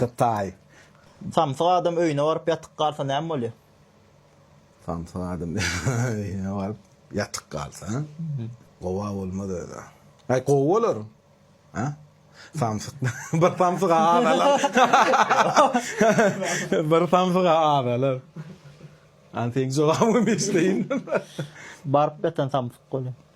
Hytaý. Samsyk adam öýüne baryp ýatyk galsa näme bolýar? Samsyk adam öýüne baryp ýatyk galsa, gowa bolmaz özä. Aý gowy bolar. Hä? Samsyk bir samsyga azalar. bir samsyga azalar. Antek jogabymy eşdeýin. Baryp ýatan samsyk bolýar.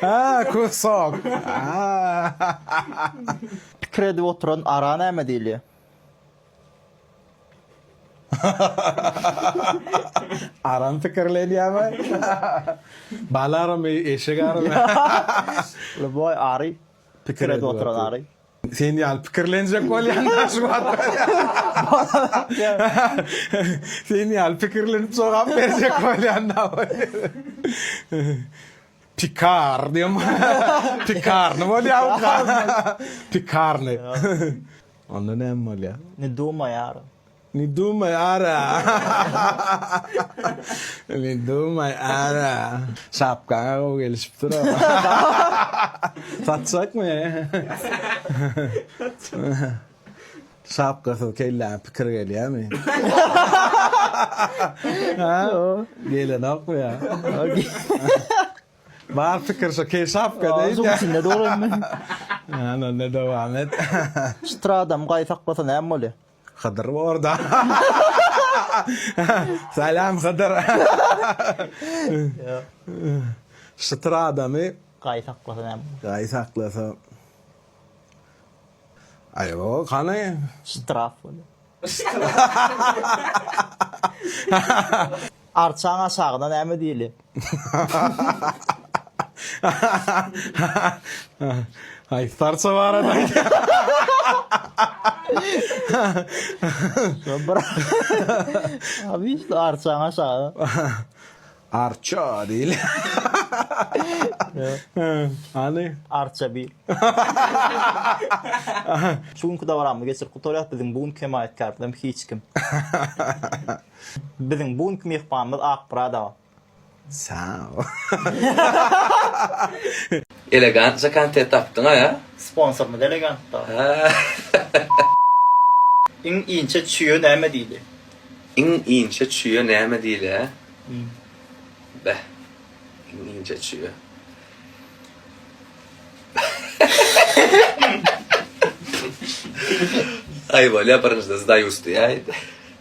Ha, köz sok. Pikir edip oturan ara näme diýilýär? Aram pikirlenýärmi? Bal aramy, eşek aramy? Ljuboý ary. Pikir edip oturan ary. Sen ýaly pikirlenjek bolýan-da şu Sen ýaly pikirlenip jogap berjek bolýan-da. Pikar diýem. Pikarny bolýar. Pikarny. Onda näme bolýar? Ne dumaýar. Ne dumay ara. Ne dumay ara. Şapkaňa gowy gelişipdir Satjakmy? Şapkasyz kelläňe pikir gelýärmi? Ha? Gelenokmy ýa? Bar pikir şo kel şapka deýin. Azuň içinde dolaýyn men. Ana onda dowam et. Şu tradam gaýy saklasa näme bolýar? Hydyr borda. Salam Hydyr. Şytyr adamy. Gaý saklasa näme. Gaý saklasa. Aý o hany. Ştraf bolýar. Arçaň aşagyna näme diýli? Haýsy arça barada aýdýaň? Arçaň aşagyna. Arça diýli. Hany? Arça bi. Şu günki dabaramy geçirip gutarýas, biziň bu günki hemaýatkarymyz hem hiç kim. Biziň bu günki myhmanymyz Akmyradowa. Saw. Elegantja kontent tapdyňa ya. Sponsorymyz elegant da. Haa. Iň inçe çüýe näme diýli? Iň inçe çüýe näme diýli hä? Beh. Iň inçe çüýe. Aý bolýa birinjide zdayus diýäýdi.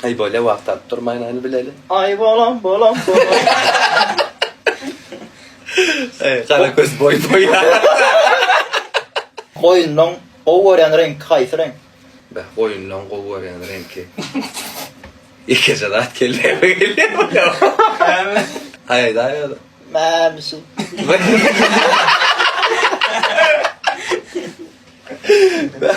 Aý bolýa wagt alyp durmaýyn aýny bileli. Aý bolam bolam bolam. Eý gara göz boý boý. Goýunlaň gowy görýän reňki haýsy reňk? Beh goýunlaň gowy görýän reňki. Ýekeje zat kelle gelýär. Aý daýy. Mämişi. Beh.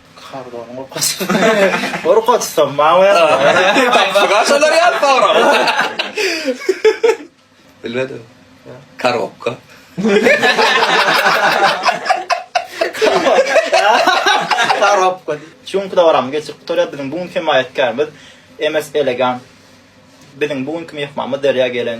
Kardon gorkut. Gorkut sen mawy. Tapşyga şolar ýa pawra. Bilmedim. Karokka. Karokka. Çünki de oram geçip gutarýar biziň bu gün hemaýatkarymyz MS Elegan. Biziň bu günki mehmanymyz derýa gelen.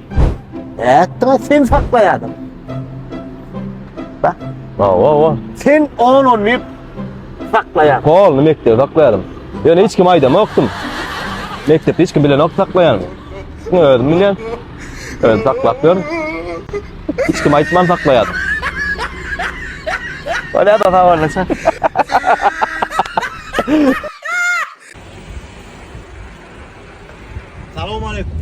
Ätdiňä sen saklaýadyň. Bak. Wa wa wa. Sen on on bir saklaýaň. Hol, ne mekdep saklaýarym. Ýa hiç kim aýdam okdum. Mekdep hiç kim bilen ok saklaýan. Ne özüm bilýän. Öz saklap ýör. Hiç kim aýtman saklaýar. Wa ne da hawa näçe. Salam aleyküm.